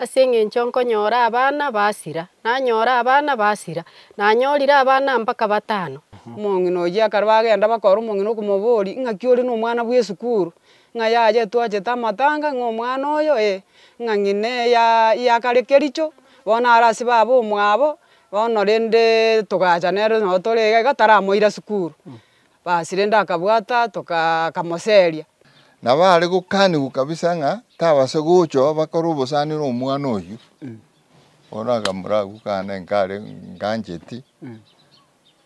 Ase engencho nkonyora abana basira, nanyora abana basira, nanyorire abana mpaka batano. Omong'ina oyio ekero bagenda bakora omong'ina okomoboria, Ing'aki ore nomwana bw'esukuru? Ng'a yaye twachete amatanga, ng'a omwana oyo ee, ng'a ng'ina eya yakare kericho, bono are ase baba omwabo, bono rende togaacha nere nabo tore iga iga taramoira sukuru. Basire ndakabwata tokamoseria. Na baare gokanigwa kabisa ng'a tabase gocha bakore obosani nomwana oyio. Bono akamoragwa kane nkare ngancheti.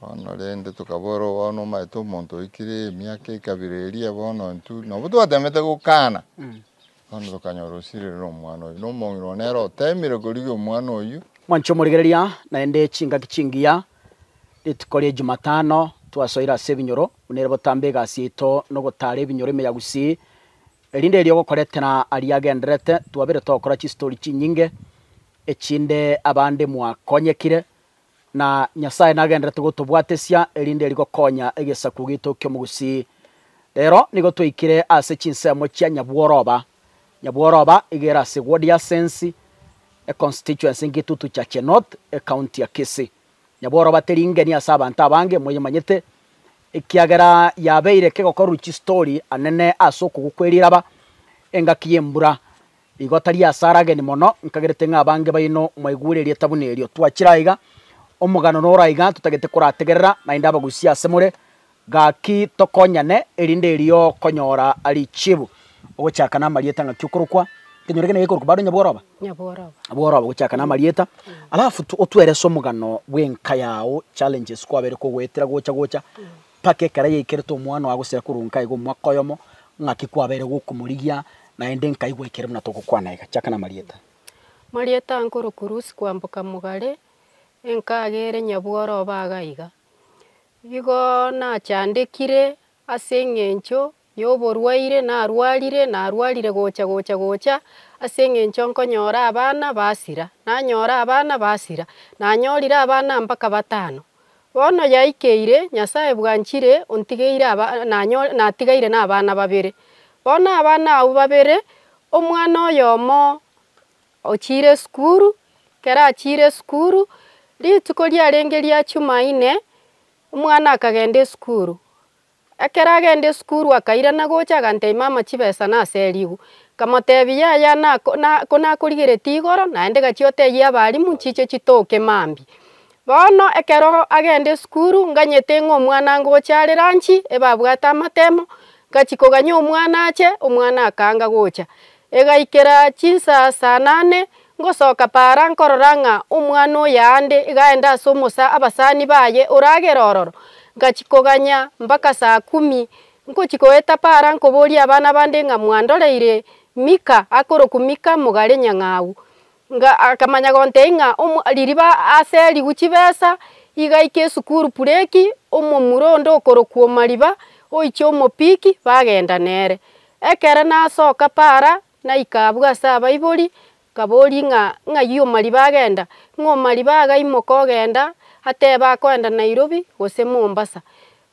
Bono rende tokaborwa bono omanyete omonto oikire emiaka ekabira eria bono intwe nabo twatemete gokana. Bono tokanyora osirire nomwana oyio, na omong'ina one nere oteemire korigia omwana oyio. Mwancha omorigereria, naende chingaki chingiya rituko ria Ejumatano twasoire ase ebinyoro, buna ere botambe egasi yaito na ogotaara ebinyoro ime ya Gusii. Erinde erio ogokoretera aria agendererete, twabire togokora chistori chinyinge, echinde abande mwakonyekire Na Nyasae nagenderete gotobwatesia, erinde rigokonya egesaku gitu ki'omogusii. Rero nigo twaikire ase chinsemo chia nyabworoba. Nyabworoba iga ere ase Gwodiasensi, econstituency Ngitutu Chache North, ecounty ya Kisii. Nyabworoba teri ngeni ase abanto abange, moyemanyete, ekiagera yabeire kegokorwa chistori anene ase okogwa kweriraba, engaki y'embura, Igo tari asare ageni mono, nkagerete ng'a abange baino mwaigwere erieta buna erio. Twachire aiga, omogano nore aiga, totagete korategerera, naende abagusia asemore, gaki tokonyane, erinde erio konyora richibu. Ogochaka namarieta ng'aki okorokwa? Nkenyore gena gekorokwa bado nyabworoba? Nyabworoba. Nyabworoba ogochaka namarieta. Alafu tu, otuerese omogano bw'enka yao, challenges kwabere kogoetera gocha gocha, mpaka ekero yaikeretwe omwana oye agosira korwa nkaye iga omwaka oyomo, ng'aki kwabeire gokomorigia, naende nkaigwa aikire buna togokwana iga. Chaka namarieta. Marieta ankoro Kurusi kwamboka Mogare, enkaga ere nyabworoba agaiga. Igo nachandekire ase eng'encho Y'oborwaire narwarire, narwarire gocha, gocha, gocha, ase eng'encho nkonyora abana basira. Nanyora abana basira, nanyorire abana mpaka batano. Bono yaikeire, Nyasae bwanchire, ontigeire aba, nanyo, natigaire nabana babere. Bono abana abwo babere, omwana oyomo ochire esukuru, ekero achire esukuru, rituko riarenge ria Jumaine, omwana akagenda esukuru. Ekero agenda esukuru akairana gocha aganteima ama chibesa nase erigu. Nkamotebia yaya konakorigereti igoro naende gachia oteyie abalimu nchiche chitoke mambi. Bono ekero agenda esukuru nganyete ng'a omwana ngocha are lunch ebabwate amatemo ngachi koganya omwana ache omwana akanga gocha. Egaikera chinsa saa nane Ngosoka paara nkorora ng'a omwana o yaande igaenda ase omosa abasani baye oragere ororo, ngachia koganya mpaka saa kumi. Nkochia goeta paara nkoboria abana bande ng'a mwandoreire Mika akorokwa Mika mogare nyang'au. Akamanya gontei ng'a ririba aserigwe chibesa igaika esukuru pureki omomura onde okorokwa Omariba oiche omopiki bagenda nere. Ekero nasoka paara Naika abwo ase abaibori, nkaboria ng'a, Ng'ai Omariba agenda? Ng'a Omariba agaimoka ogenda, ateba akoenda Nairobi gose Mombasa.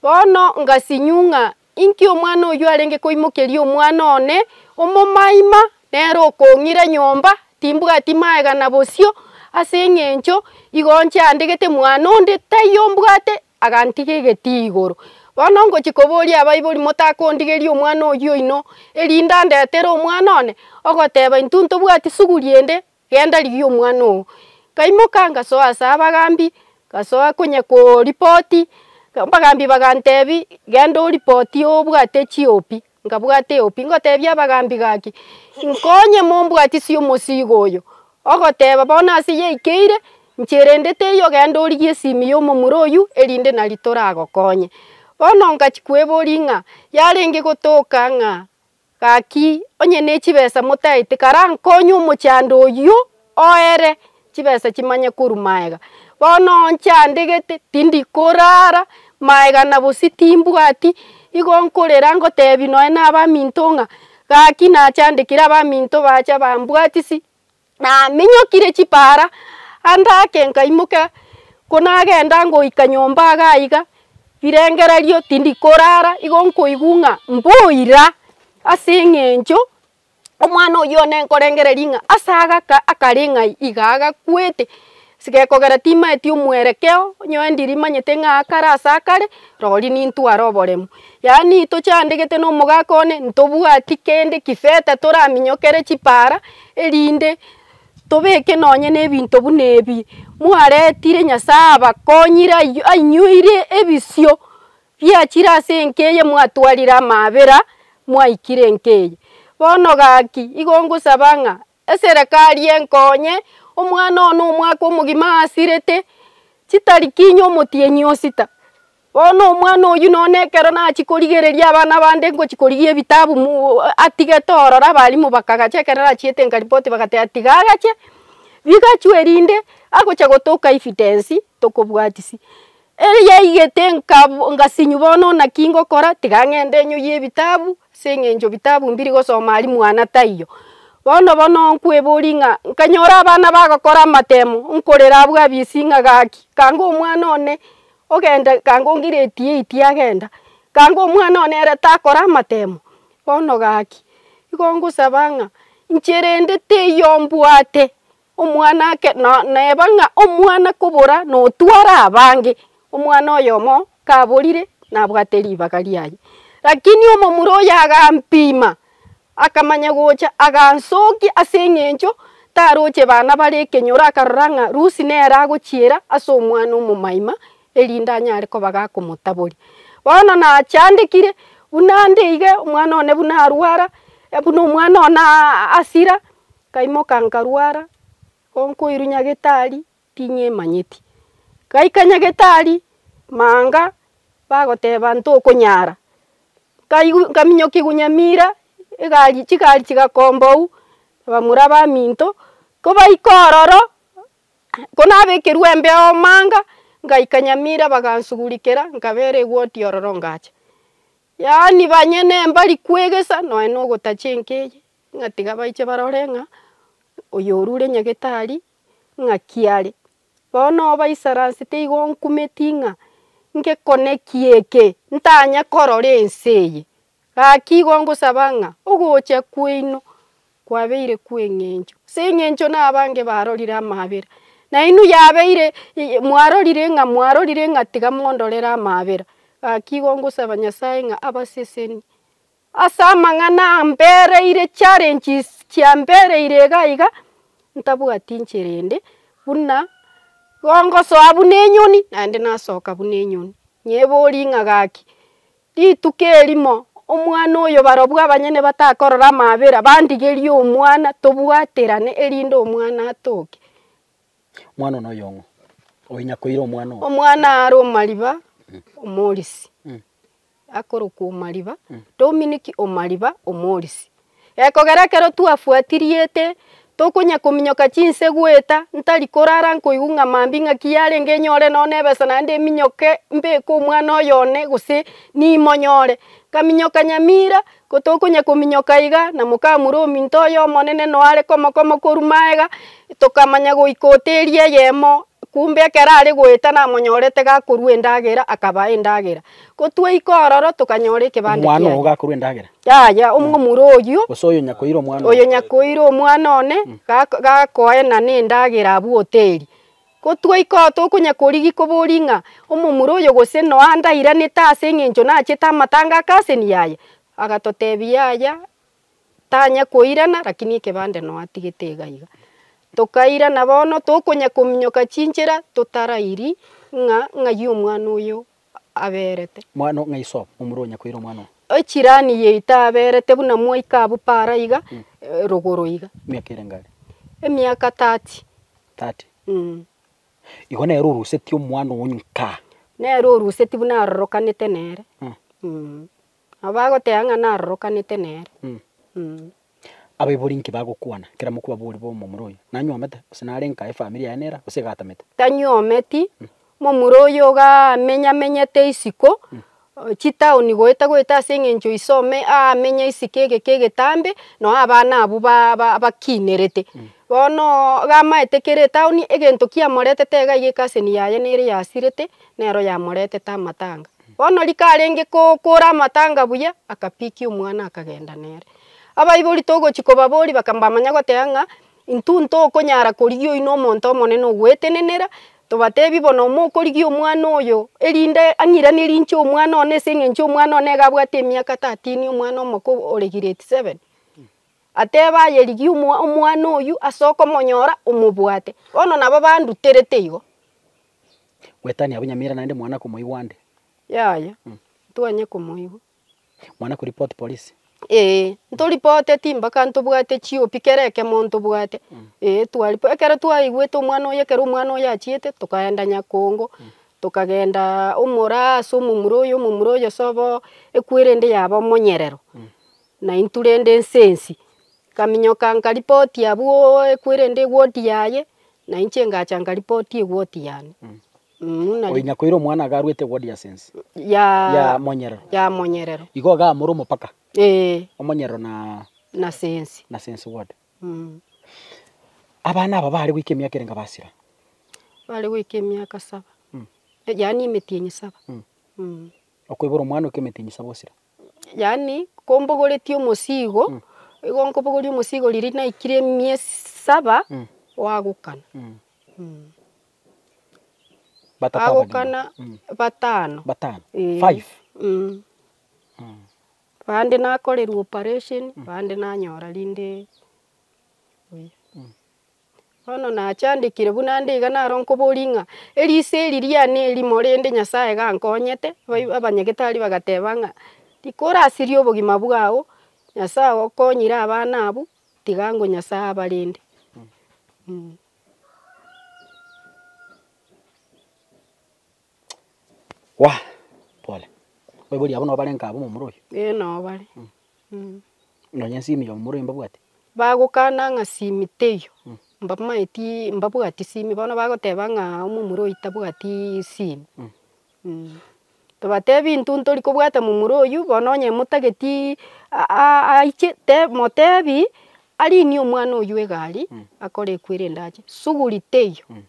Bono ngasinyu ng'a inki omwana oyio arenge koimokeria omwana one omomaima nere okong'ira nyomba, timbwati maegana bosio, ase eng'encho igo nchiandegete mwana onde taiyo mbwate agantiga egetii igoro. Bono ngochia koboria abaibori motakondigeria omwana oyio oino, erinde andetere omwana one, ogoteba intwe ntobwati suguri ende, genda rigia omwana oo. Ngaimoka ngasoa ase abagambi, ngasoa konya koripoti, abagambi bagantebi genda oripotie obwate chiopi, Nkabwata eopi, ngotebia abagaambi gaki, Inkonye mombwatisie omosiigo oyo. Ogoteba, Bono ase yaikeire, nchia erende teiyo ogende origie esimi y'omomura oyio, erinde nari toragokonye. Bono nkachia kweboria ng'a, Yarenge gotoka ng'a gaki onye ne chibesa motaete, karankonye omochando oyio? oere chibesa chimanye korwa maega. Bono oo nchandegete, tindi korara maega na gose timbwati, igo nkorera ngotebi nonya na abaminto ng'a gaki nachandekire abaminto bacha bambwatisi, naminyokire chipara ande ake nkaimoka konagenda ngoika nyomba iga aiga, birengererio tindi korara igo nkoigwa ng'a mboira ase eng'encho. Omwana oyio one nkorengereria ng'a ase agaka akare ng'ai iga agakwete, sigekogera timaeti omwerekeo, onye wendi rimanyete ng'a akare ase akare, rori nintware oboremu. Yaani tochandegete na omogaka one, ntobwati kende kifeta toraminyokere chipara, erinde tobeke nonye na ebinto buna ebi mwaretire Nyasae abakonyire ayio ainyoire ebisio Biachire ase enka eye mwatwarire amaabera mwaikire enka eye. Bono gaki, igo ngosaba ng'a eserekari enkonye omwana one omwaka omogima aasirete, chitari kinya omotienyi osita. Bono omwana oyio nonye na ekero nachia korigereria abana bande ngochia korigia ebitabu mu atigete ororo abalimu bakagacha ekero nachiete nkaripoti bagateba tiga agache, bigachwa erinde agocha gotoka evidence tokobwatisi. Ere yaigete ngasinywa bono naki ngokora, tiga ng'ende nyoyie ebitabu, ase eng'encho bitabu mbiri gosoma aria mwana taiyo. Bono obo nonkweboria ng'a nkanyora abana bagokora amatemo, nkorera abwo abisi ng'a gaki, kanga omwana one ogenda kanga ongireti eight agenda, kanga omwana one ere takora amatemo, bono gaki, igo ngosaba ng'a inche rende teiyo mbwate, Omwana ake no neba ng'a omwana kobora notware abange, omwana oyomo kaborire nabwate ribaga riaye. Lakini omomura oyo agampima, akamanya gocha agansokia as'eng'encho taroche bana bare ekenyoro akarora ng'a Lucy nere agochiera as'omwana omomaima erinde anyare koba gakomotabori. Bono nachandekire buna nde iga, omwana one buna arwara, buna omwana one asira. Nkaimoka nkarwara, onkoirwa nyagetari ting'emanyeti. Ngaika nyagetari manga bagoteba ntokonyara, nkaigwa nkaminyokigwa nyamira egari chigari chigakombou abamura abaminto, kobaika ororo konabekerwa embeo manga, ngaika nyamira bagansugurikera nkabera egoti ororo ngacha. Yaani banyene mbari kwegesa nonya na ogotacha enka eye, ng'a tiga baiche barore ng'a oyo orure nyagetari ng'aki are. Bono oba isaransi teigo onkumeti ng'a ngekone ki eke, ntanya korora ense eye, gaki igo ngosaba ng'a ogocha kwaino kwabeire kw'engencho, ase engencho nabange barorire amaabera, nainwe yabeire mwarorire ng'a mwarorire ng'a tiga mondorere amaabera, gaki igo ngosaba Nyasaye ng'a abasesenie ase amang'ana ambereire challenges chiambereire iga iga, ntabwati nchera ende, buna igo ngosoa buna enyoni, naende nasoka buna enyoni, nyebori ng'a gaki. Rituko erimo, omwana oyo barobwo abanyene batakorora amaabera, bandigerie omwana, tobwaterane, erinde omwana atoke. Omwana one oyong'o, oinyakoire omwana oo. Omwana aare omariba, omorisi, akorokwa omariba, Dominic omariba, omorisi. Gekogera ekero twafuatiriete, tokonya kominyoka chinsegweta, ntari korara nkoigwa ng'a mambia ing'aki yarenge enyore nonya nebesa naende eminyoke mbeke omwana oyo one gose nimonyore. Nkaminyoka nyamira, ko tokonya kominyoka iga na mokamura ominto oye omonene no are komokoma korwa magega, tokamanya goika hoteli eyemo, kumbe ekero are goeta namonyorete gakorwa endagera, akabaa endagera. Ko twaika ororo tokanyora ekebanda kiaye. Omwana ogo gakorwa endagera, Yaya, omomura oyio, Gose oyo nyakoira omwana oyo one. nyakoira omwana one, gak- gakoena nendagera abwo hoteri. Gotwaika oo tokonya korigi kobori ng'a omomura oyo gose noa ndairanete ase eng'encho nachete amatanga ake ase ni yaya. Agatotebi yaya, tanya koirana rakini ekebande noa atigete iga iga. Tokairana bono tokonya kominyoka chinchera totarairi ng'a ng'ai omwana oyo aberete. Mwana o ng'a iso omorua onyakoire omwana oo. Echirani yaito aberete buna moika abwo para iga rogoro iga. Emiaka erenge are? Emiaka tati. Tati? Mh. Igo nere oruseti omwana oo nkaa. Nere oruseti buna arorokanete nere. Mh. Nabo agoteba ng'a narorokanete nere. Abaibori inki bagokwana kera mokwabori b'omomura oyo? Nanyuomete, gose nare nka efamiri yaye nera, gose igatamete? Tanyuometi, momura oyo ogamenyamenyete isiko chitaoni goeta goeta ase eng'encho ise ome aamenye isiko egeka egetambe, noo abana abwo ba ba bakinerete. Bonoo gamaete kere etaoni egento kiamoretete iga iga ekaseni yaye nere yasirete, nero yamoretete amatanga. Bono rika arenge kookora amatanga buya, akapikia omwana akagenda nere. Abaibori togochia kobaboria bakambamanya goteba ng'a intwe ntokonyara korigia oino omonto omonene ogwetenenera, tobatebi bono mokorigia omwana oyo erinde ang'iraneri inche omwana one ase eng'encho omwana one iga abwate emiaka tatini omwana omoko ore giredi seven. Ateba aye rigia omwa omwana oywo ase okomonyora omobwate. Bono nabo banduterete igo. Gwetania abanyamira naende mwana komoigwa ande. Yaya, ntwanye komoigwa. Mwana ko report polisi. Ee, nto ripote timbaka ntobwate chiopi kera ekemo ntobwate. Ee, twa rip ekero twaigwete omwana oye ekero omwana oye achiete, tokaenda Nyakongo, tokagendaa omora ase omomura oyo, omomura oyo sobo ekwere ende yaba omonyerero. Naintwe rende ense ensi. Ikaminyoka nkaripoti abwo ekweri ende egoti yaye, nainche ngacha nkaripoti egoti yane. Buna ri- Oinya koira omwana iga arwete egodi ase ense. ya- Ya monyerero. ya monyerero. Igo iga more omopaka, Ee, omonyerero na na sensi. na sense bwate. Mm. Abana aba bare goika emiaka ere nkabasira? Bare goika emiaka saba. Mm. Yaani emetienyi saba. Mm. Mm. Okoibora omwana oika emetienyi saba osira? yaani kombogoretie omosigo, igo nkobogoria omosigo riria naikire emiesi saba gwagokana. Batato abagima. Agokana batano. Batano. Eh. Five. Mm. Bande nakorerwa operation, bande nanyora rinde buya. Bono nachandekire buna nde iga naro nkoboria ng'a eriso eri riane erimo rende Nyasaye gankonyete, bai abanyagitari bagateba ng'a rika orasirie obogima bwao, Nyasaye ogokonyire abana abwo, tiga ango Nyasaye abarende. Waa, pole. Oiboria abwo nabo barenge abwo momura oyio? Ee nao bare. Mh. Nonya ensimi ya momura oyio mbabwate? Bagokana ng'a simi teiyo. Mh. Mbamaeti mbabwati simi, bono bagoteba ng'a omomura oyio tabwati simi. Mh. Mh. Tobatebi intwe ntori kobwata momura oyio, bono onye motageti a- a- aiche, te motebi arinie omwana oyio egari, akore ekwo erende ache. Suguri teiyo. Mh.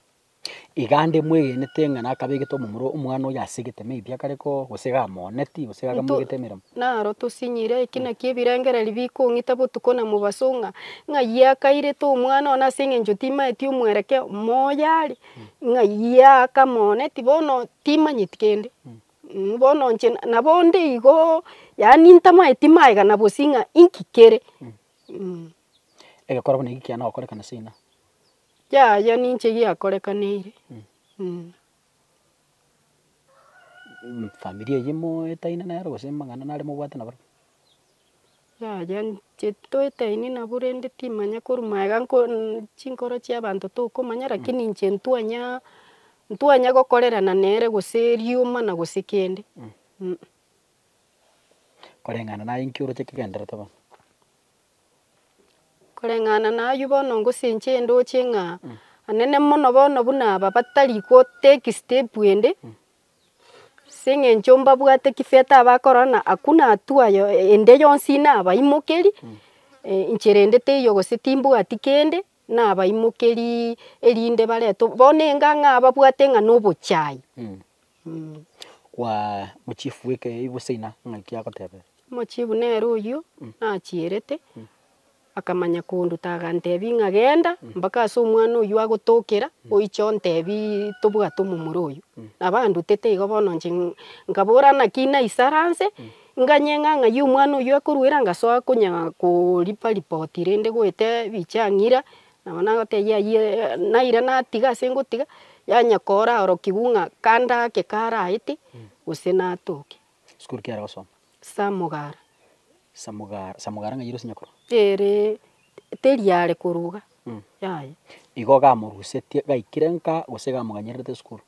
Iga nde mwegenete ng'a nakabegete omomura omwana oyo ase egeteme ebi akare koo, gose gamooneti, gose gakamoegete emeremo. Naro tosinyire eki nakio ebirengererio bikong'ita botuko na mobaso ng'a, ng'a ye akairete omwana one ase eng'encho timaeti omwereke omoyo are, ng'a ye akamooneti bono timanyeti kende. Bono inche nabo onde igoo, yaani ntamaeti maegena bosio ng'a inki kere. Egekorwa buna eki kiane gokorekana seino. Yaya ninche giakorekaneire mm. Familia eyio moetaine nero gose amang'ana nare mobwate naboro? Yaya inche toetaine nabo rende timanya korwa magega nko chinkoro chia abanto tokomanya lakini inche ntwanya ntwanya gokorerana nere gose rioma na gose kende mm. Koreng'ana naye inki oroche kegenderete bono? Koreng'ana nayio bono ngosenchaa endooche ng'a anene mono bono buna aba batari gotake step ende, ase eng'encho mbabwate kifeete abakorora ng'a hakuna hatua yo ende yonsi nabaimokerie, enchera ende teiyo gose timbwati kende, nabaimokerie erinde baretwe bono engang'a ababwate ng'a nobochai. Kwa mochifu w'ekeegusii na ng'aki agotebee. Omochifu nere oyio nachierete, akamanya konduta agantebi ng'a genda mpaka ase omwana oyio agotokera oiche ontebi tobwate omomura oyio. Nabo andutete igo bono inche nkabora naki naisara nse, nganye ng'a ng'ai omwana oyio akoruera ngasoa konya koripa ripoti rende goeta ebichang'ira Nabo nagotebia ayio naira natiga ase ngotiga, yanya koora orokigwa ng'a kande ake karaete gose natoke. School ki are gosoma? Samogara. Samogara, Samogara ng'ai ere ase nyakoroa? Ere teri are korwa iga, yaya. Igo gamorusetie gaikire nka gose gamoganyererete esukuru?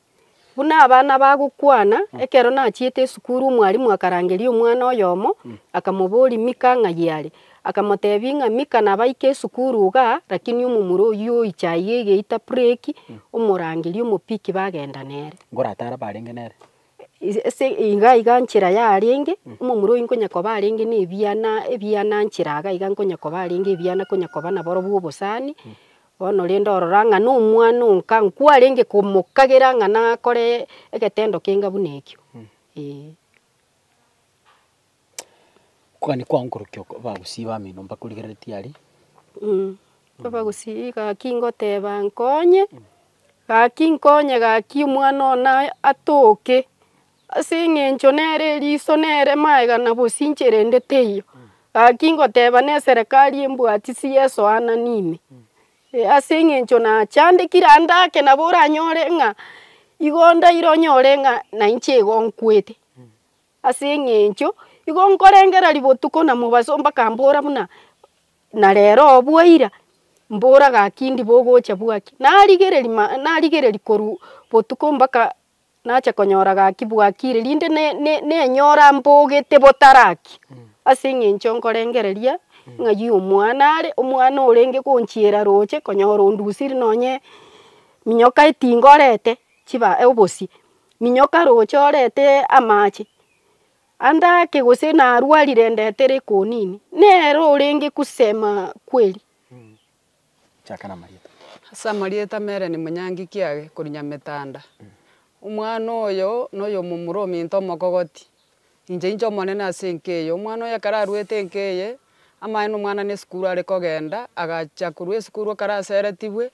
Buna abana bagokwana, ekero nachiete esukuru omwalimu akarangeria omwana oyomo, akamoboria Mika ng'ai are. Akamotebia ng'a Mika nabaika esukuru iga, lakini omomura oyio oiche aiga egeita break, omorangeria omopiki bagenda nere. Ngoratare abarenge nere. Is- ase iga iga nchera yarenge, omomura oyio nkonya koba arenge na ebiana ebiana nchera iga iga nkonya koba arenge ebiana konya koba nabarobwo obosani, Bono rende orora ng'a nomwana onka nkwarenge komokagera ng'a nakore egetendo kenga buna ekio, eeh. Kwani kwankorokia oko abagusii bamino mbakorigereretie aria? abagusii gaki ngoteba nkonye, gaki nkonye gaki omwana one atoke. Ase engencho nere eriso nere maega na bosinche rende teiyo. Gaki ngoteba neserekari embwatisi y'esoanani ime. Ase engencho nachandekire ande ake nabo oranyore ng'a igo ndaire onyore ng'a nainche igo nkwete. Ase engencho igo nkorengereria botuko na mobaso bakambora buna na rero obua ira, mbora gaki ndibo ogocha bwaki. Narigereria ma narigereria korwa botuko mbaka. Nache konyora gaki bwaki ire, rinde ne- ne- nenyora mbogete botaraki, ase eng'encho nkorengereria ng'ai omwana are, omwana orenge gonchiera roche konyora ondusiri nonye minyoka etinga orete chiba obosie, minyoka roche orete amache, andake gose narwarire ndetere ekonini, nere orenge kusema kweri. Chaka namarieta. Ase amarieta mere ni Munyangi Kiage, kori Nyametanda. Omwana oyo noyomomura ominto omokogoti. Inche inche omonene ase enka eye. Omwana oyo ekero aruete enka eye, amaye nomwana nesukuru are kogenda, agachia korwa esukuru ekero aseretibwe,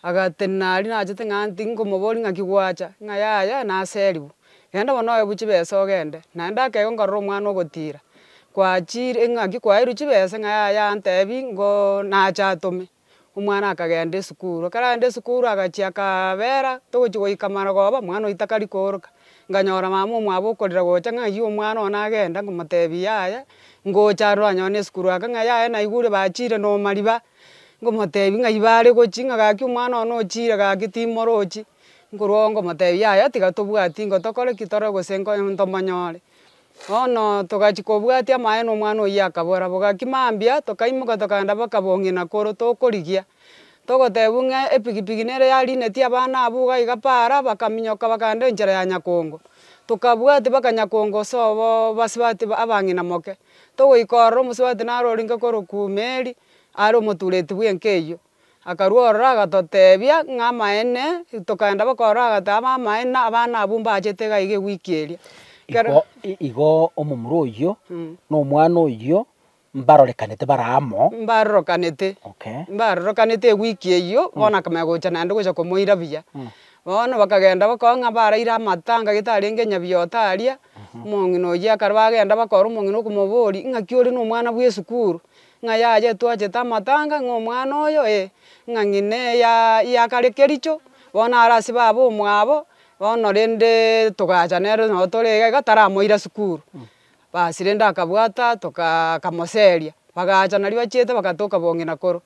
agatenena aria nachete ng'a nti nkomoboria ng'aki gwacha, ng'a yaya naserigwe. Genda bono oebwe chibesa ogende. Naende akegwa nkarora omwana ogotiira. Kwachire ng'aki kwaeirwe chibesa ng'a yaya antebi ngo nache atome. Omwana akagenda esukuru. Ekero arenda esukuru agachia akaabera togochi goika marogoba omwana oyio takari kooroka. Nkanyora mama omwabo okorira gocha ng'a ayio omwana one agenda nkomotebi yaya ngocha aroro anyone na esukuru ake ng'a yaya naigure bachiire na omariba. Nkomotebi ng'ai bare gochi ng'a gaki omwana one ochiire gaki timorochi. Nkorwa oo ngomotebia, Yaya, tiga tobwati ingo tokore ki tore gose nko ntomonyore. Bono togachia kobwatia amaene omwana oyio akabora, bogaki mambia, tokaimoka tokagenda baka bong'ina koro tokorigia. Togotebiwa ng'a epigipigi nere yarinetie abana abwo iga iga para, bakaminyoka bakagenda enchera ya Nyakongo. Tokabwatia baka Nyakongo ase oboo basubati abang'ina moke. Togoika ororo omosubati naro orenge korokwa Meri, are omotureti bw'enka eyio. Akarua ororo agatotebia ng'a amaene, tokaenda baka ororo agateba abamaene na abana abwo mbachete iga iga ewiki eria. Ekero. Igo, igo omomura oyio na omwana oyio mbarorekanete bare amo. Mbarorokanete. Okay. Mbarorokanete ewiki eyio, bono akamanya gocha naende gocha komoira buya. Bono bakagenda bakabaa ng'a baraire amatanga getarenge nyabiyote aria, omong'ina oyio ekare bagenda bakora omong'ina okomoboria, ing'aki ore nomwana bw'esukuru? Ng'a yaye twachete amatanga, ng'a omwana oyo, ee, ng'a ng'ina eya yakare kericho, bono are ase baba omwabo, bono rende togacha nere nabo tore iga iga taramoira sukuru, basi rende akabwata tokaa akamoseria, bagacha nario bachiete bagatoka bong'ina koro,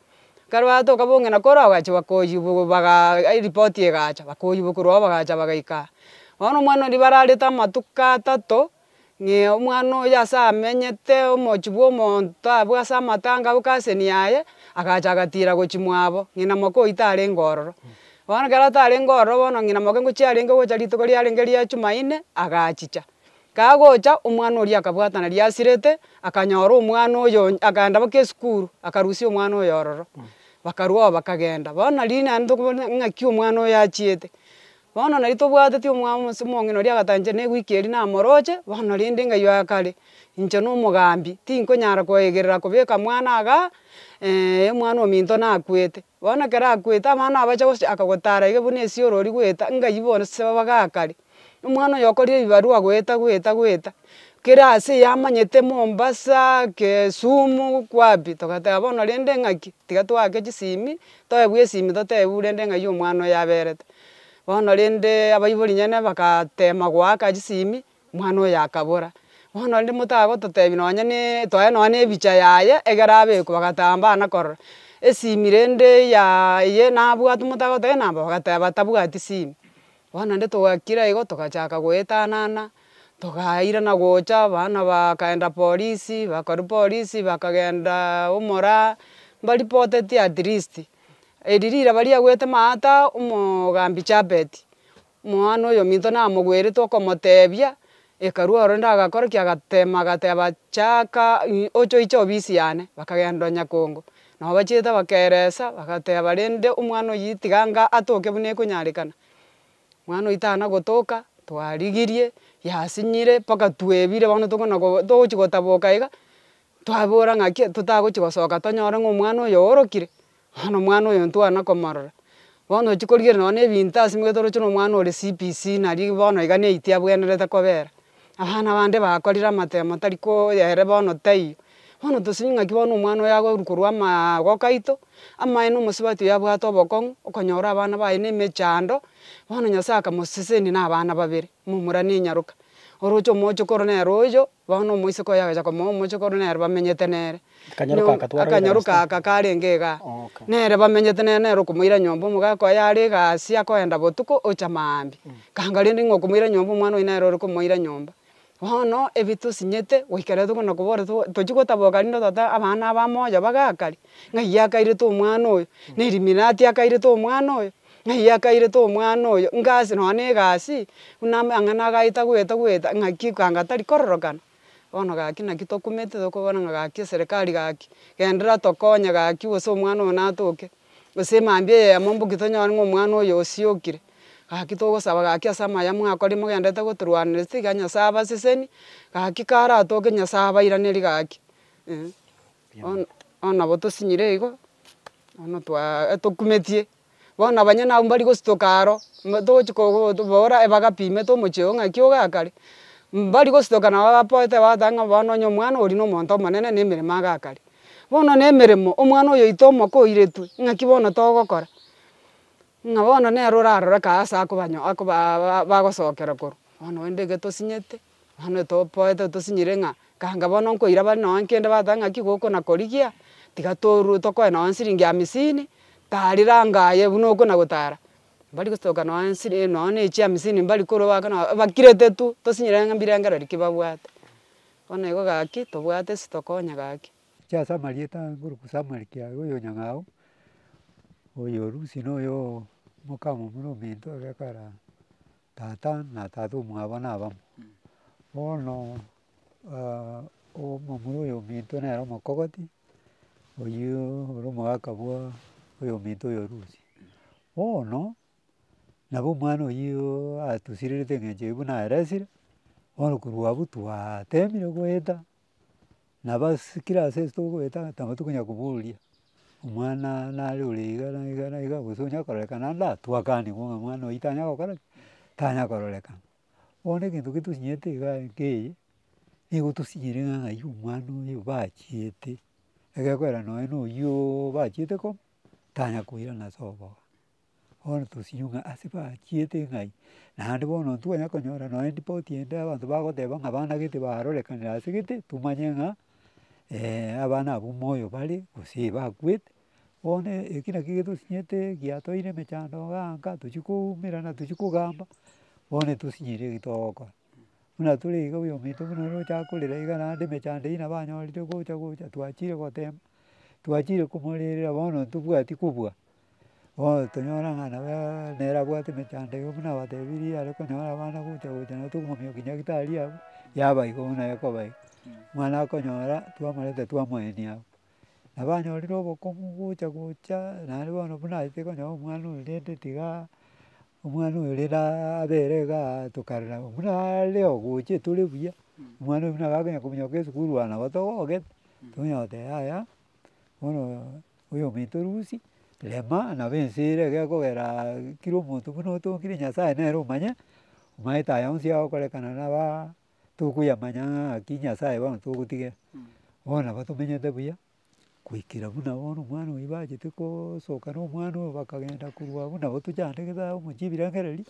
ekero batoka bong'ina koro bagachi bakoyibo bagaa ai ripoti egacha bakoyibokorwa oo bagacha bagaika aa. Bono omwana ribararete amatuko atato. ng'e omwana oyo ase amenyete omochi bw'omonto abwo ase amatanga abwo kaseni yaye, agacha agatiira gochimwa abo, ng'ina moke oyio tarenge ororo. Bono ekero atarenge ororo bono ng'ina moke ngochia arenge gocha rituko riarenge ria Jumaine, agachicha. Kagocha, omwana oria akabwatana riasirete, akanyora omwana oyo onye akaenda mpaka esukuru, akarusia omwana oyo ororo, bakarwao bakagenda. Bono nari naende tokobona ng'aki omwana oyo achiete. Bono nari tobwateti omwabo Mose Omong'ina oria agatanchera negwiki eria namoroche bono rende ng'ayio akare, inche nomogambi tinkonyara koegerera kobeka mwana aaga ee omwana ominto nakwete. Bono ekero akwete abana abacha gocha akagotara iga buna esiorori goeta ng'ayio bonsi babagaakare. Omwana oyo okorire ebibarua goeta goeta goeta. Kera ase yamanyete Mombasa, Kesumu, kwapi, togateba bono rende ng'aki, tiga toake chisimi, toebwe esimi totebiwe rende ng'ai omwana oyo aberete. Bono rende abaibori nyene bagatema goaka chisimi, omwana oyo akabora. Bono rende motagototebi nonye ne twaye nonye ne ebicha yaye egere abekwe bagatamba bana korora, esimi rende ya eye nabwate motagoteba enamba bagateba tabwati simi. Bono inde togakira igo togachaka goetanana, togairana gocha, abana bakaenda polisi, bakorwa polisi bakagenda omoraa, mbaripotetie at least, eri riraba riagoete maata omogambi chapeti, omwana oyo ominto namogwerete okomotebia, Hekalu ore ndagakora ki? Agateema, agateeba, Chaaka ng'a oche oiche obisi yane. Bakagenda o nyakongo. Nao bachiete bakeeresa, bagateeba, Rende omwana oyio tiga ng'a atoke buna ekonyarekana. Omwana oyio tana gotoka, twarigirie, yasinyire, mpaka twebire bono tokona ko togochi gotaboka iga, twabora ng'aki totagochi gosoka tonyore ng'a omwana oyo oorokire, Bono omwana oyo ntwana komorora, bono ochia korigereria nonye na ebinto ase omanyete oroche na omwana ore CBC nari bono iga na eite abwenerete kobera. Abana abande bakorire amatemo tari ko ere bono taiyo. Bono tosemie ng'aki bono omwana oyo agoru korwa amaa goka aito, amaye na omosubati oyo abwate obokong'u, okonyora abana baye na emechando, bono Nyasaye akamosesenia na abana babere, momura na enyaroka. Oroche omochokoro nere oyo, bono omoiseke oyo agacha komoa omochokoro nere bamenyete nere. Akanyaru ka akatwarwa ere Akanyaru Galastia. ka aka karenge iga. Okay. Nere bamenyete nere nere okomoira nyomba omogaka oye are iga aase akoenda botuko ocha maambia. Kanga rende ng'a okomoira nyomba omwana oye nere ore komoira nyomba. Bono ebi tosinyete goika rero tokona kobora to- tochia gotaboka rinde otate abana aba moyo bagakare, ng'a iye akairete omwana oyo, na eliminati akairete omwana oyo, ng'a iye akairete omwana oyo, ngasi nonye na egasi, buna ame ang'ana agaeta goeta goeta ng'aki kanga tari kororokana. Bono gaki naki tokumete tokobora ng'a gaki eserekari gaki genderera tokonye gaki gose omwana oyo natoke, gose emambia eyemo mboki tonyore ng'a omwana oyo osiokire, gaki togosaba gaki ase amaya mwakorire mogendererete gotorwanereria tiga Nyasaye abaseseni, gaki kara atoke Nyasaye abairanerie gaki eh. Bono bono nabo tosinyire igo, bono twaa etokumetie. Bono abanyene abwo mbari gositoka aro, togochi kobora ebagapi imete omochie oo ng'aki ogaka are, mbari gositoka nabo abapoete bagoteba ng'a bono onye omwana oria na omonto omonene na emeremo agaka are. Bono na emeremo omwana oyoito omoke oiretwe, ng'aki bono togokora? Ng'a bono nere orarore kae ase akoba akoba bagosokera korwa, bono rende ekero tosinyete. Bono topoete otosinyire ng'a ganga bono nkoira bare nonye kende bateba ng'aki goko na korigia, tiga torue tokoe nonye siringi amisini, tari ranga aye buna oko na gotara. Mbari gosoka nonye siri nonye ne chiamisini mbari korwa goaka nabo abakirete tu tosinyire ng'a mbirengero riki babwate. Bono igo gaki tobwate esitokonya gaki. Chiase amarieta nkoruku Samuel Kiarie oyo Nyang'au, oyo Lucy na oyo omoka momura ominto ore kare aa. Tata na tata omwabo nabamo. Bono omomura oyo ominto nere omokogoti, oyio ore omogaka bwa oyo ominto oyo orusia. Bono nabo omwana oyio atusirerete engencho eye buna aresire, bono korwa abwo twatemire goeta. naba ase kera ase ase togoeta ng'a taba tokonyara koboria omwana nare ore iga na iga na iga gose onyare kororekana ande aa twakaanigwe ng'a omwana oyio tanya gokora ki, tanya kororekana. Bono egento gete tosinyerete iga nkeiyo, nigo tosinyire ng'a ng'ai omwana oyo bachiete, egekorera nonye noyio bachiete koo, tanya koirana ase obogongo. Bono tosinywe ng'a ase bachiete ng'ai, naende bono ntikonya konyora nonya ripoti ende abanto bagoteba ng'a abana gete barorekanire ase gete, tomanye ng'a abana abwo moyo bare gose bakwete. Bono eki naki getosinyete giatoeire emechando iga nka tochia koumerana tochia kogamba, bono etosinyire eki togokora. Buna tore iga oyo ominto buna ore ochaka korera iga naende emechando eyio nabo anyorire gocha gocha twachire gotemba, twachire komorerera bono ntobwati kobua. Bono tonyora ng'a nabo nere abwate emechando eye buna abatebirie are konyora abana gocha gocha nabo tokomomia oki nyagetari abwo, yaba igo buna ekoba iga. Omwana akonyora twamoreta twamoenia abwo. Nabo anyorire obokumu gocha gocha naende bono buna achete konyora omwana oyo rende tiga omwana oyo rero abere iga tokarora buna are ogocha tore buya, omwana oyo buna agakonya kominyoka esukuru aa nabo togogete, tonya goteba yaya bono oyo ominto orusia rema nabo ense ere iga ekogera kera omonto buna otongire Nyasaye nere omanye omanyete aya onsi agokorekana naba tokoyamanya ng'a ng'aki Nyasaye bono togotigena. Bono nabo tomenyete buya. Goikera buna bono omwana oyo bachete gosoka na omwana oyo bakagenda korwa abwo nabo tochande kithao amo chibirengererio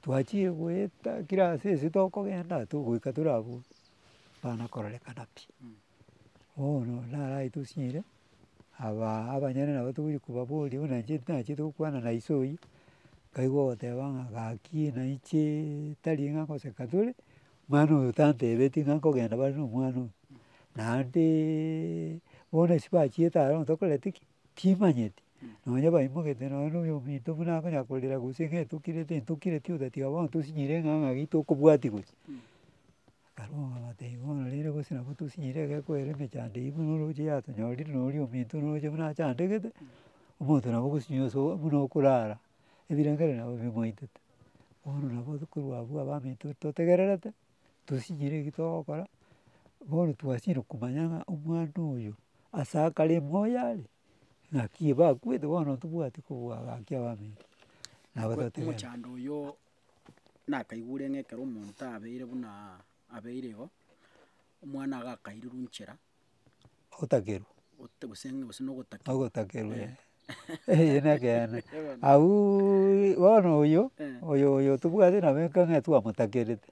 twachire goeta kira ase ase tokogenda togoika tore abwo bana kororekana pi. Bono narai tosinyire aba abanyene nabo togochi kobaboria buna inche nachiete gokwana na iso oyio, nkaigwa ogoteba ng'a gaki naiche tari ng'a goseka tore. Mwana oyo tantebetie ng'a nkogenda bare nomwana oyo, naende bono ase bachiete aro tokoreti ki timanyeti, nonya baimogete nonya noyo ominto buna akonyara korera gose ng'a etokireti etokireti otatiga bono tosinyire ng'a ng'aki tokobwatia gochia. Barabwo bagateba bono rende gose nabo tosinyire egekweri emechando eywo buna oroche yatonyorire noria ominto noroche buna achandegete, omonto nabo ogosinyire buna okorara. ebirengererio nabo bimwaetete, bono nabo korwa abwo abaminto totegererete, tosinyire eki togokora, bono twasinyire komanya ng'a omwana oyo ase akare moyo are, ng'aki bakwete bono tobwati kobua gaki abaminto. Omochando oyo nakaigure ng'a ekero omonto abeire buna abeire igo, omwana iga akairirwe nchera. Ogotakerwa. Ogote gose ng'a gose nogotakerwa. Ogotakerwa eh, eye nekeene. Auuuii bono oyo, oyo oyo tobwate nabo ekero ng'a twamotakerete,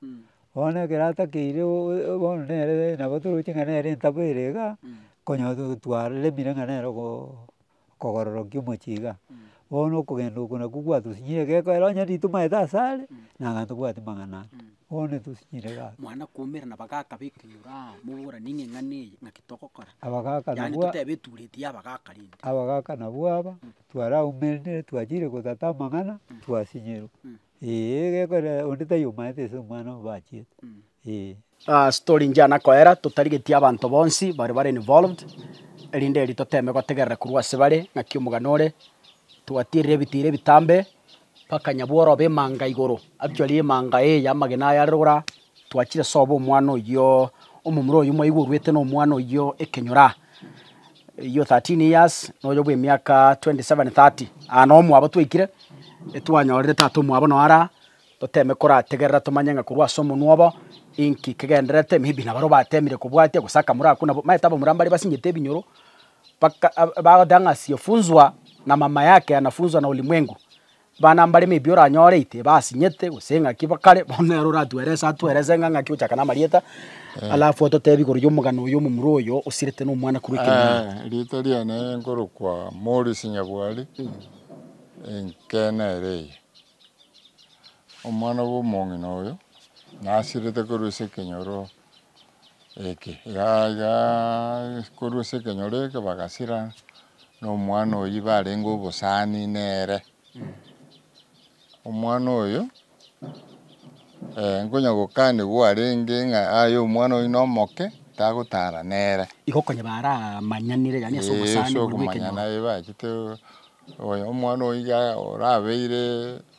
bono ekero atakeire oo bono nere nabo toroche ng'a nere entabo ere igaa, konya twaremire ng'a nere ogo. okogororokia omochie igaa, bono okogenda oko nakwo gwatosinyire egekoo ero onye ritumo maete ase are, naaye tobwati mang'ana ande, bono etosinyire igaa. Mwana koumera na abagaka ba ekenyoro aa, moboranie ng'a eng'ana eye ng'aki togokora, Abagaka yaani nabwo a- totebe etureti ya abagaka rende. abagaka nabwo aba, twaraumerire twachire gotata amang'ana, twasinyirwa. Ee gekogera onde tari omanyete ase omwana obachiete ee. Ase tore inche ana koera totarigetie abanto bonsi bare bare involved erinde erio toteme gotegerera korwa ase bare ng'aki omogani ore twatierire ebitira ebitambe mpaka nyabworo obe emanga igoro actually emanga eye y'amagena aya aroro Twachire sobo omwana oyio, omomura oyio mwaigwa orwete na omwana oyio ekenyora. Eyio 13 years na oyo bw'emiaka 27 30. Aa noo omwabo twaikire, etwanyorire tata omwabo noo araa, toteme korategerera tomanye ng'a korwa ase omonwa obo, inki kegendererete, maybe nabaro batemire kobwatia gose akamura ako nabo, omanyete abamura mbare basinyete ebinyoro, mpaka ab- bagoteeba ng'a asiyefunzwa na mama yake anafunzwa na ulimwengu. Bana mbare maybe oranyore ite basinyete gose ng'aki kare bono nere oratuerese atuerese ng'a ng'aki ochaka namarieta alafu ototebi igoro yomogano oyo omomura oyo osirete na omwana korwa ekenyoro. Riita riane nkorokwa Maurice Nyabwari, enkena ere eye. Omwana bw'omong'ina oyo nasirete korwa ase ekenyoro eke. Korwa ase ekenyoro eke bagasira na omwana oyio barenge obosani nere. Omwana oyo nkonya gokanigwa arenge ng'a aye omwana oyo nomoke tagotara nere. Igo konya baramanyanire yaani ase obosani buna bw'ekenyoro. Ee ase okomanyana bachete omwana oyo iga orabeire.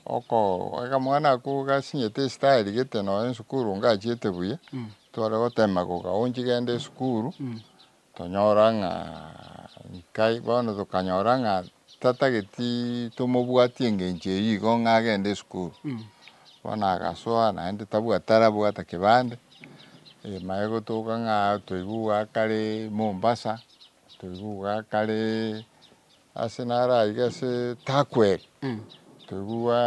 Okogoika mwana ako gasinyete esitari gete nonya esukuru ngachiete buya, tware gotema goka onchi genda esukuru, tonyora ng'a nkai bono tokanyora ng'a tatageti tomobwati engencho eyio igo ng'a agende esukuru. Bono agasoa naende tabwa tarabwata kebande, egima egotoka ng'a toigwe iga akare Mombasa, toigwe iga akare Ase naro aiga ase Turkwell, toigwa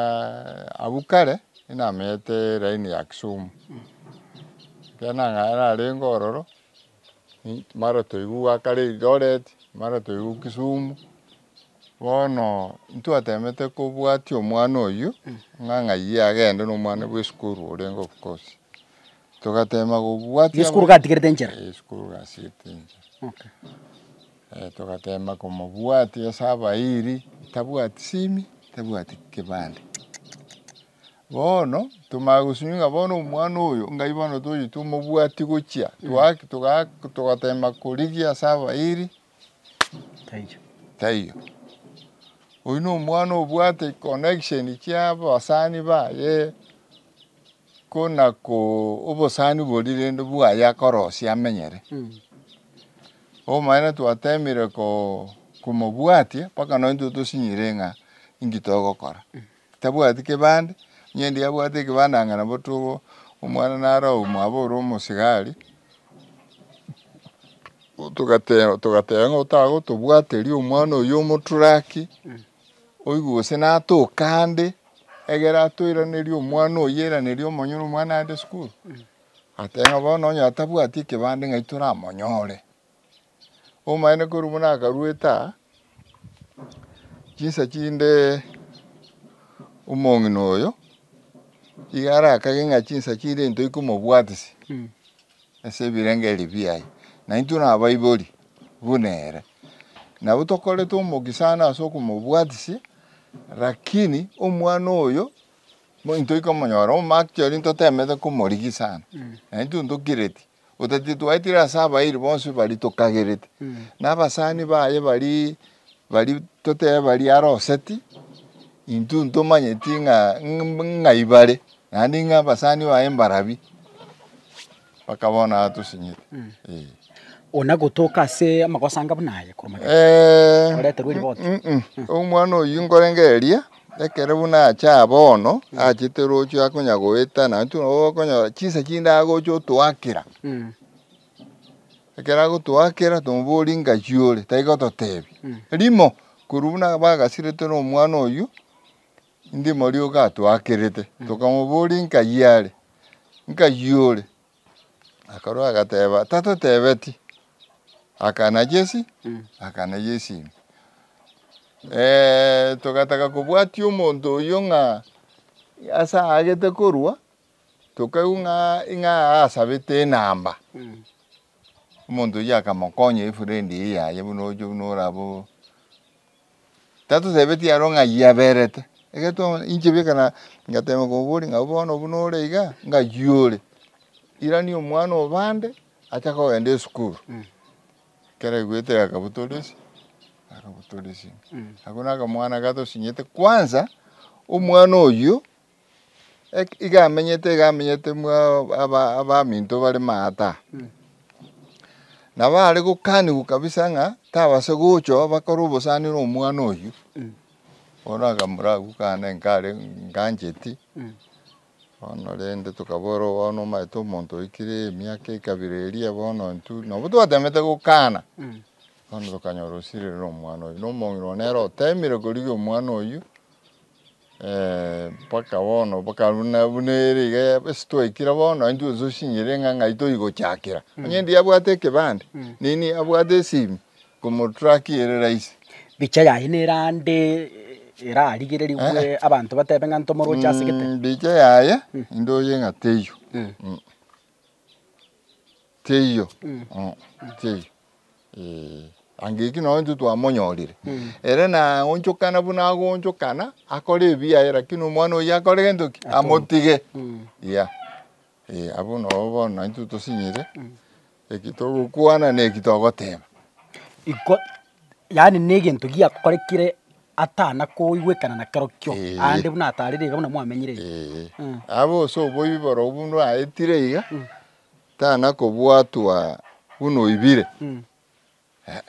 abwo kare inamenyete line ya Kisumu. Ekero nang'ana narenge ororo, mara toigwa gwakare Eldoret, mara toigwa Kisumu. Bono ntwatemete kobwatia omwana oyio, ng'a ng'ayio agende na omwana bwa esukuru orenge of course. Togatema kobwatia. Esukuru gatigerete enchera. Esukuru gatigerete enchera. Okay. Togateema komobwatia ase abairi, tabwati simi, tabwati kebande. Bono tomanya gosinywa ng'a bono omwana oyo ngai bono tochi tomobwatie gochia togateema korigia ase abairi, taiyo. Oyio nomwana obwate connection chiabasani baye. Ko nako obosani bori rende bwaye akorosia amenyere. Obomanene twatemire komobwatia mpaka nonye intwe tosinyire ng'a inki togokora. Tabwati kebande, onye endi abwate ekebande anga nabo to- omwana naro omwabo ore omosigari, togateba ng'a otagotobwateria omwana oyo omoturaki, Oigwe gose natoke ande, egere atoiranerie omwana oye airanerie omonyene omwana aende sukuru, atebe ng'a bono onye atabwati ekebande ng'ai toramonyore. Omanyete korwa buna akarwete aa, chinsa chinde omong'ina oyo, iga arakage ng'a chinsa chire ntoiye komobwatisia ase ebirenge ebiaye, naintwe nabaibori buna ere. Nabo tokorete omoke sana ase okomobwatisia, lakini omwana oyo ntoika komonyora omo actually ntotemete komorigia sana, na intwe ntokireti otatiga twaetire ase abairi bonsi baria tokagereti, na abasani baye baria baria totebe baria aroseti, intwe ntomanyeti ng'a ng'a ibare, naende ng'a abasani baye mbarabwo. Mpaka bono aa tosinyete. Ee. Onagotoka ase amagoso anga buna aya korwa magega? Ee. Oreterwe riboti? Umm, omwana oyio nkorenge eria, ekero buna acha aa bono, achete roche akonya goeta, na intwe nabo okonyora chinsa chinde agocha otoakera. Ekero agotoakera, tomoboria ngaki ore, tari gototebi. Rimo, korwa buna bagasirete na omwana oyio, Inki morio gatoakerete? Tokamobooria, Inka yiare? Inka yiore? Akarua agateba, Tatotebeti. Akana Jesi, akana Jesi ime. Ee, togataka kobwatia omonto oyio ng'a ase aagete korua, tokaigwa ng'a ing'a asabete enamba. Omonto oyio akamokonya efrendi eye yaye buna oche buna orabe o. Tatosebetie aro ng'a ayio aberete. Ekero twamanya inche bweka na, ngateema komoboria ng'a bono buna ore iga, ng'ayio ore. Irani omwana o bande achake kogenda esukuru. Ekero aigwete akabotoresia, akabotoresia. Ako nakamwana gatosinyete kwanza, omwana oyio. iga amenyete iga amenyete mwa aba- abaminto bare maata. Nabo are gokanigwa kabisa ng'a tabase gochoo bakore obosani na omwana oyio, bono akamura agwo kane nkare ngancheti, bono rende tokaboorwa bono omanyete omonto oikire emiaka ekabira eria bono intwe nabo twateemete gokana, bono tokanyora osirire na omwana oyio, na omong'ina one nere oteemire korigia omwana oyio. Mpaka bono bokaru na buna ere iga ya ase twaikire bono intwe gose osinyire ng'a ng'ai toigochakera. Onye endi abwate ekebande, nini abwate esimi, komotrack ere rahisi. Bicha yaye nere ande erarigererigwe abanto batebe ng'a ntomoroche asegete. Mbicha yaye, indoche ng'a teiyo. Teiyo, teiyo, ee. Angeki nonye intwe twamonyorire, ere naonchokana buna agoonchokana, akore ebiya aye lakini omwana oyio akore gento ki? Amotige. Yeah. Ee, abwo nabo bono naintwe tosinyire, eki togokwana na eki togoteba. Iko yaani negento giakorekire atana koigwekana nakero kio Eeh. aande buna atarire iga buna mwamenyire iga. Eeh. Mm. Abe ase oboibi borobwo buna oaetire iga, Mm. tana kobwatwa buna oibire. Mm. Eh,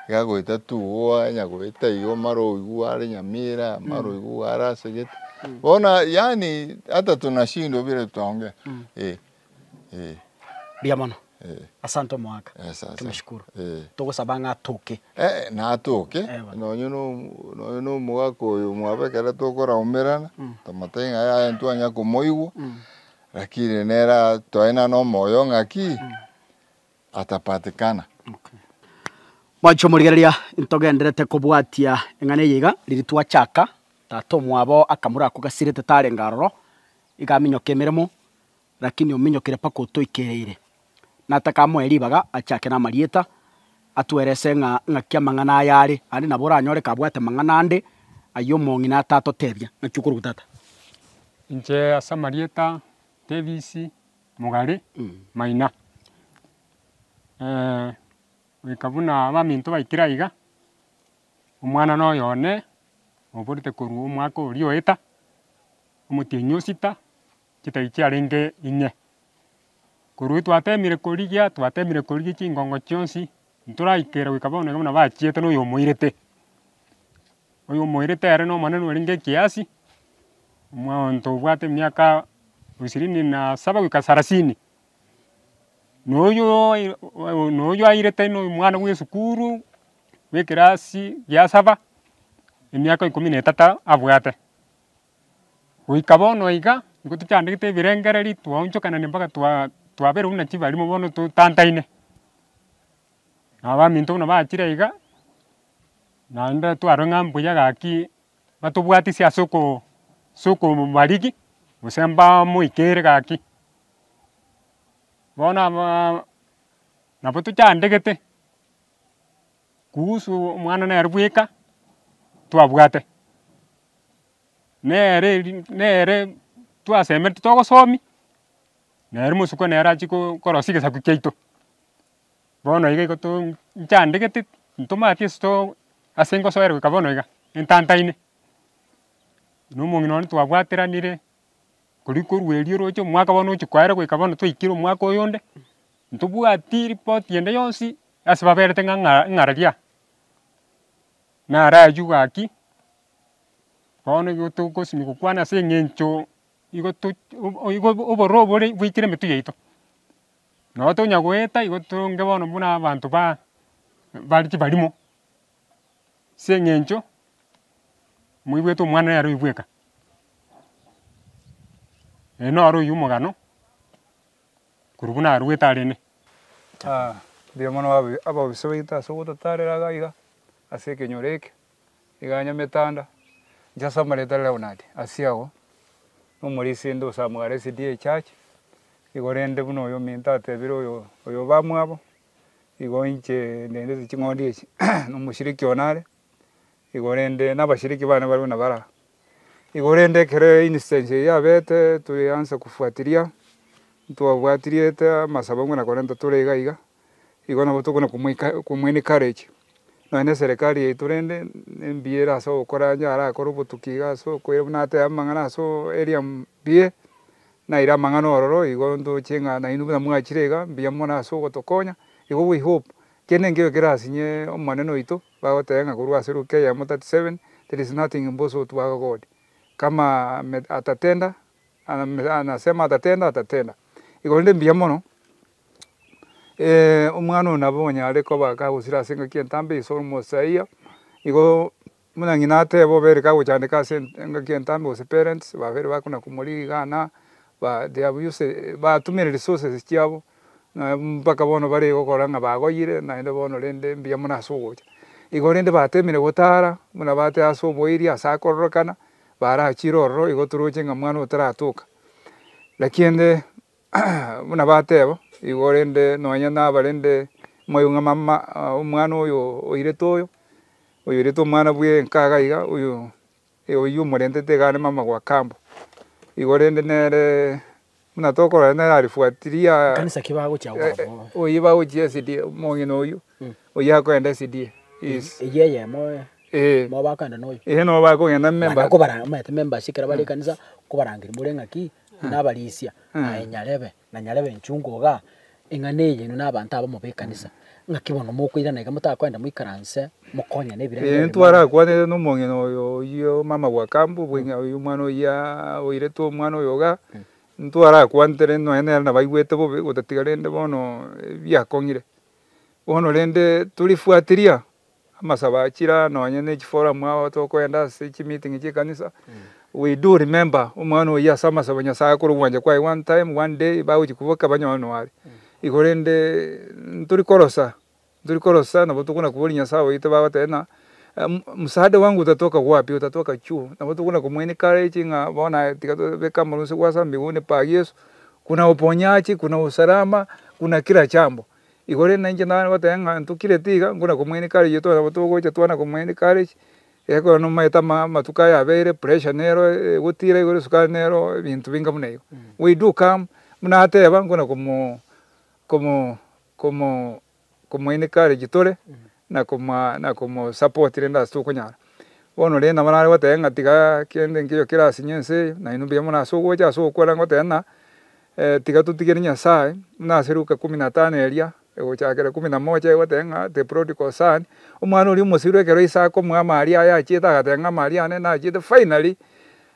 iga goeta tu oanya goeta iga omare oigwe are Nyamira, mare oigwe are ase gete. Bono yaani hata tunashindwa bire tuongee. Eh. Eh. Mbuya mono. Eh. Asante omoaka. Eh, asante. Tumeshukuru. Eh. Togosaba ng'a atoke. Eh, natoke. Eh, bana. Nonye no, nonye no omogaka oyo mwabo ekero tokoraumerana, Mm. tomotebi ng'a yaya ntwanya komoigwa, Mm. rakini nere a- twaye naro na omoyo ong'aki, atapatikana. Okay. Mwancha omorigereria, ntogenderete kobwatia eng'ana eye iga, riria twachaka, tata omwabo akamura ako gasirete tarenge aroro, iga aminyoke emeremo, Lakini ominyokire mpaka otoikereire. Nataka amoe ribaga achake namarieta, atwerese ng'a ng'aki amang'ana aya are, aande nabo oranyore kabwate mang'ana ande ayio omong'ina atatotebia. Ng'aki okoruga tata? Inche ase amarieta Davis Mugari Maina, goika buna abaminto baikire aiga, omwana noyo one oborete korwa omwaka oria oeta, omotienyi osita. chitari chiarenge inye. Korwa twatemire korigia, twatemire korigia chingongo chionsi, ntoraikera goika bono iga buna bachiete noyo omoirete. Oyo omoirete ere na omonene orenge ekiasi, omonto obwate emiaka ishirini na saba goika sarasini. Na oyio na oyio airete na omwana bwa esukuru bwa ekerasi gia saba, emiaka ikomi na etata abwate. Goika bono iga, nigo tochandegete ebirengererio, twaonchokanania mpaka twaberwa buna chibarimo bono totantaine. Nabo baminto buna bachire iga, naende twarorire ng'a mbuya gaki batobwatia ase ase okobarigi, gose mbamoikere gaki. Bono nabo tochandegete. Kuhusu omwana nere bweka twabwate, nere eri nere twasemeretie togosomi, nere omosokwa nere achie ko- korosia egesaku kiaito, bono iga igo too nchandegete ntomanyeti ase too ase ngosoera goika bono iga, entantaine. Na omong'ina one twabwateranire. Riria korwa erio oroche omwaka bono ochi koera goika bono twaikire omwaka oyonde, ntobwati ripoti ende yonsi ase baberete ng'a ng'a ng'araria. Nara aywo gaki, bono igo togosimeka gokwana ase eng'encho igo to igo obororo obo bore bwaikire emetwe yaito. Nabo tonya goeta igo toronge bono buna abanto ba bare chibarimo. as'eng'encho moigwete omwana oye aroiyo bweka, ee noro oyio omogano korwa buna arwete arene. mbuya mono aba- ababisa baito ase ogototarera iga iga, ase ekenyoro eke, iga nyametanda, inche ase amareeta a Leonard Asiago, na omorisende osamugara SDA church, igo rende buna oyo ominto atebire oyo oyo obamwabo. igo inche ndendete ching'ondi echi na omoshiriki one are igo rende na abashiriki bane barabwo nabo ara. Igo rende ekero instance eye yabete toyeansa kofuatiria ntwabwatiriete amasabo buna korenta tore iga iga igo nabo tokona komoika komo encourage nonya na eserekari yaito rende embuya ere ase ogokora onye arakore obotuki iga ase okoira buna atebe amang'ana ase area mbuya. Naire amang'ana ororo igo ntoche ng'a nainwe buna mwachire iga mbuya mono ase ogotokonya, igo we hope kende enkeiyo kere asinye Omonene oito, bagoteba ng'a korwa ase Luke eyemo 37, There is nothing impossible to our God, kama ame atatenda, ame anasema atatenda, atatenda. Igo rende mbuya mono, ee, omwana oyo nabo onye are koba kagosira ase engaki entambe, he is almost a year, igo. Buna ng'ina ateba obere kagochandeka ase engaki entambe gose parents babere bakona kumori rigana ba they have used batumire resources chiabo na mpaka bono bare gokora ng'a bagoyire naende bono rende mbuya mono ase ogocha. Igo rende batemire gotara buna bateba ase omoiri ase akororokana barachire ororo igo toroche ng'a mwana oyo taratoka. Naki ende. Buna bateba igo, korende nonya nabarende moigwe ng'a mama omwana oyo oirete oyo, oyoirete omwana bwenka iga iga, oyo oyio omorentete iga are mama gwa kambo. Igo rende nere buna tokorora nere arifuatiria oyio bagochia SDA omong'ina oyio, oyio akoenda SDA yes. Eeh. Nabo bakogenda memba. nabarisia, aye nyarebe, na nyarebe enchungu iga, eng'ana eye inwe nabanto abamo b'ekanisa, ng'aki bono mokoirana iga motakoenda moikaranse mokonyane ebirengererio Ee, biane? ntwarakwanire nomong'ina oyo oyio omama bwa Kambo, bweng'ina oyio omwana oyia oiretwe omwana oyo iga, ntwarakwantere nonye nere nabaigwete bobe gotatiga rende bono ebiakong'ire. Bono rende torifuateria. Amasabo a chiraa nonye ne chiforamu agho tokoenda ase chimiting'i chi'ekanisa, we do remember omwana oyio ase amasabo Nyasaye akore ogwancha kwaye one time, one day bagochia kobua ekaba nonye nonya are. Igo rende ntori korosa, ntori korosa nabo tokona koboria Nyasaye oito bagoteba ng'a msaada wangu utatoka wapi? Utatoka chuo. Nabo tokona komoa encourage ng'a bono aye tiga tobeke amang'osa gwase amo mbaiga one pa Yeso, kuna uponyaji, kuna usalama, kuna kila jambo. Igoro rinde nainche nare goteba ng'a ntokireti iga, ngona komoini kare iyetware nabo togocha twana komoini kare, ekero nomaete ama amatuko aya abeire, pressure nero egotira igoro esukari nero ebinto binga buna igo. We do come buna ateba ngona komo komo komo komo encourage tore na koma na komo support rende ase tokonyara. Bono rende nabo nare goteba ng'a tiga kende nkeiyo kera ase nyenseiyo, nainwe mbuya mono ase ogocha ase ogokora goteba ng'a Tiga totigere Nyasae, buna ase Luka ikomi na tano eria egochakera ikomi na mocha egoteba ng'a the prodigal son, omwana oria omosiru ekero ise akomoa amaaria aye achiete agateba ng'a amaaria ane nachiete finally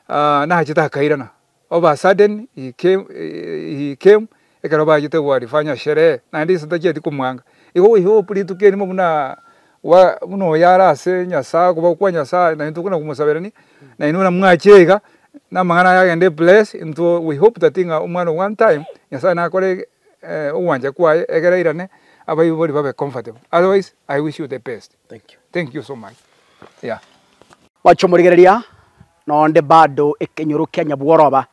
nachiete akairana. Of a sudden he came he came ekero bachete gwarifanya sherehe naende ise tachieti komoanga. Igo goika ogopurituka erimo buna Koba buna oyo are ase Nyasae, koba kwa Nyasae, naintwe buna komosaberania, nainwe buna mwache iga, namang'ana aya agende bless into we hope that ng'a omwana o one time Nyasae nakore ogwancha kwaye egere airane abaibori babe comfortable. Otherwise I wish you the best. Thank you so much. Yeah. Mwache omorigereria nonde bado ekenyoro kia nyabworoba.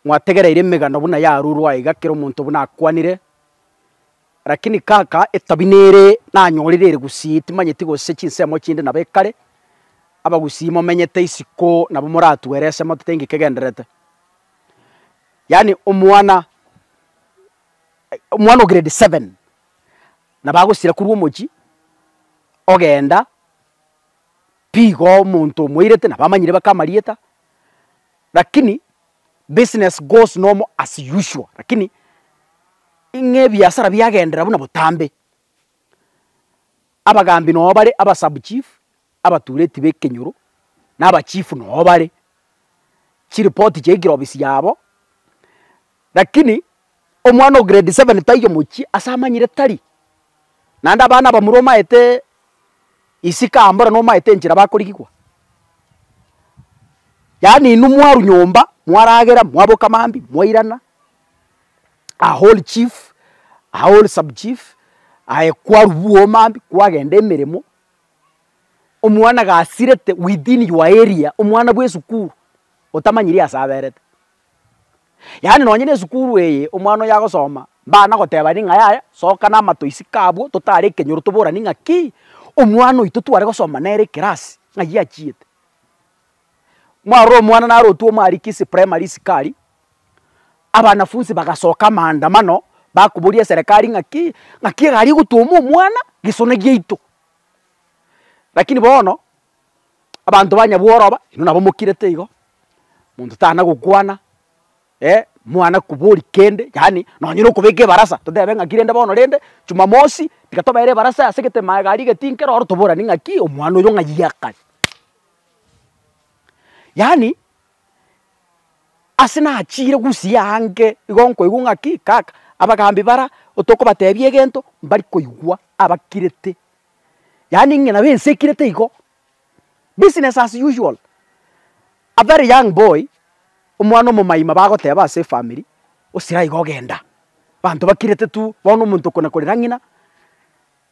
Mwategereire emegano buna yarurwa iga kera omonto buna akwanire. Lakini kaka etabi nere nanyorire ere gusii, timanyeti gose chinsemo chinde nabo ekare, abagusii momenyete isiko nabo moratue ere ase moto teinki kegendererete. Yaani omwana omwana o grade seven nabo agosira korwa omochie ogenda piga omonto omoirete nabo amanyire baka amarieta lakini. business goes normal as usual lakini ng'a ebiasara biagenderera buna botambe, abagambi noo bare, aba sub chief, abatureti ba ekenyoro, na aba chief noo bare, chiripoti chiaikire obisi yabo, lakini. omwana o grade seven taiyo omochie ase amanyire tari. Naende abana abamura omaete isiko aa mbore nomaete enchera bakorigigwa. Yaani inwe mwarwa nyomba, mwaragera, mwaboka mambia, mwairana, a whole chief, a whole sub chief, aye kwarwa bwogo mambia, kwagenda emeremo, omwana gasirete within your area, omwana bw'esukuru otamanyiri ase aberete. Yaani nonye nesukuru eye omwana oyo agosoma, mbana goteba ning'a yaya soka namatoisi kabwo totare ekenyoro toborane ng'aki, omwana oito tware gosoma nere ekerasi ng'ai achiete. Mwarora omwana narotwe omwariki ase primary isiko aria, abanafunsi bagasoka amaandamano bakoboria eserekari ng'aki, ng'aki egari egotwoma omwana gesona giaito. Lakini bono. Abanto banya bworoba, inwe nabo mokirete igo, monto tana gokwana, mwana kobori kende, yaani nonye na okobeka ebarasa, totebe ng'aki rende bono rende, jumamosi, tiga tobeere ebarasa ase egetema egari egetinke roro toborane ng'aki omwana oyo ng'ai akare. Yaani ase nachiire gusii aange, igo nkoigwa ng'aki, kaka, abagaambi bara, otokobatebia egento, mbari koigwa abakirete yaani ng'a nabo ense ekirete igo, business as usual, a very young boy, omwana omomaima bagoteba ase efamiri, osira igo genda, abanto bakirete tu, bono omonto okona korera ng'ina,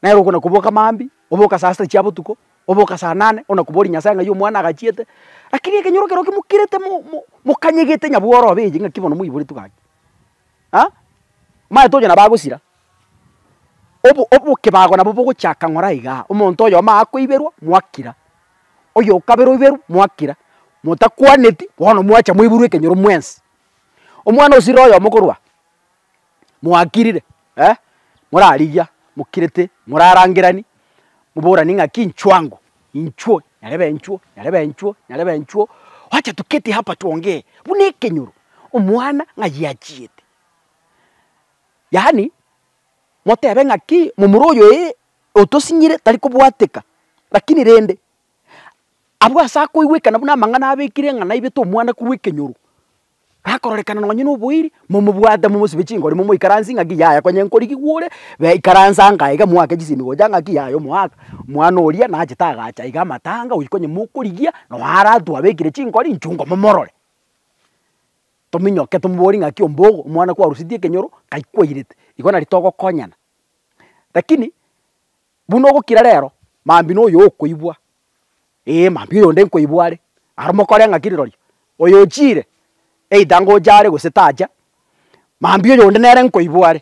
nere okona koboka mambia, oboka saa sita chia botuko, oboka saa nane, okona kobori Nyasae ng'ai omwana agachiete, rakini ekenyoro kerokia mokirete mo mo mokanyegete nyabworobe eye ng'aki bono moiboretwe gaki, aa, omanyete onye nabo agosira. Obo obokebago nabo bogochaka ng'ora aiga, omonto oyomo akoiberwa mwakira, oyokabere oiberwe mwakira, motakwaneti bono mwacha mwaiburwa ekenyoro mwensi. Omwana osirire oyomo korwa aa, mwakirire eh, morarigia mokirete morarangerani, moborani ng'aki inchuo ango, inchuo nyarebe inchuo, nyarebe inchuo, nyarebe inchuo, wacha tuketi hapa tuongee, buna ekenyoro, omwana ng'ai achiete. Yaani, motebe ng'aki momura oyo ee, otosinyire, tari kobwateka, lakini rende, abwo ase akoigwekana buna amang'ana abekire ng'a naibete omwanaku bw'ekenyoro, akororekana nonye na oboiri, momobwate momosibe chingori momoikaransie ng'aki yaya konye nkorigigwa ore, be ikaransa ango aiga moake chisemigo chia ng'aki yaya omoaka, omwana oria nachete agacha iga amatanga, oyio konye mokorigia, noo aratwe abekire chingori inchungo momorore. Tominyoke tomobori ng'aki ombogo omwana kwarusetie ekenyoro kai kwairete, igo nari togokonyana. Rakini buna ogokira rero, mambi na oyo okoibwa, ee mambi oyonde nkoibwa are, aro mokore ng'aki rirorio, oyo ochiire either ngocha are gose tacha, mambi oyonde nere nkoibwa are.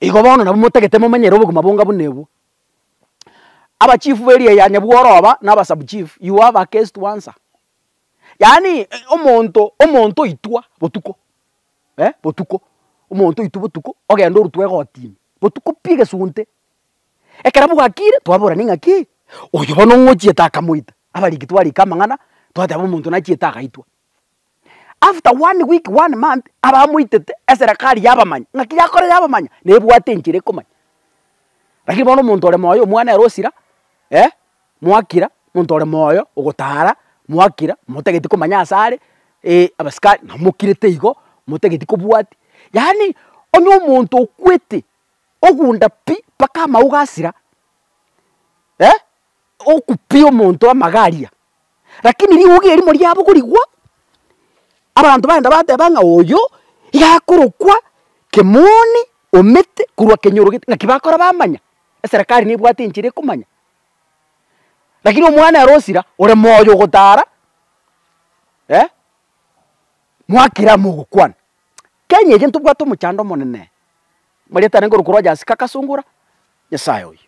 Igo bono nabo motagete momanyere obogima bonga buna obwo. Abachief b'eria ya nyabworo aba, na aba sub chief, you have a case to answer. yaani omonto omonto oitwa botuko eh botuko, omonto oitwa botuko ogenda orutwa egotini botuko pi egesunte, ekero bwakire twaborani ng'aki oyo bono ng'o ochiete akamoita, abariki twarika amang'ana twateba omonto nachiete agaitwa. After one week one month abamoitete eserekari yabamanya ng'aki yakorire yabamanya nebwate enchera ekomanya. Lakini bono omonto ore moyo omwana ere osira eh. mwakira, monto ore moyo ogotara, mwakira, motageti komanya ase are, ee abasikari nabo mokirete igo, motageti kobwati, yaani onye omonto okwete ogunda pi mpaka amauga asira, eh, oku pi omonto amaga aria, lakini riuge erimo riabo korigwa, abanto bagenda bateba ng'a oyo, iga akorokwa, kemoni, omete, korwa kenyorogete, naki bakora bamanya, eserekari nebwate enchera ekomanya, Lakini omwana ere osira ore moyo ogotaara eh, mwakire amo ogokwana. Kenya eye ntobwate omochando omonene, marieta arenge ore korwa Jasika agasungura, Nyasaye oyo.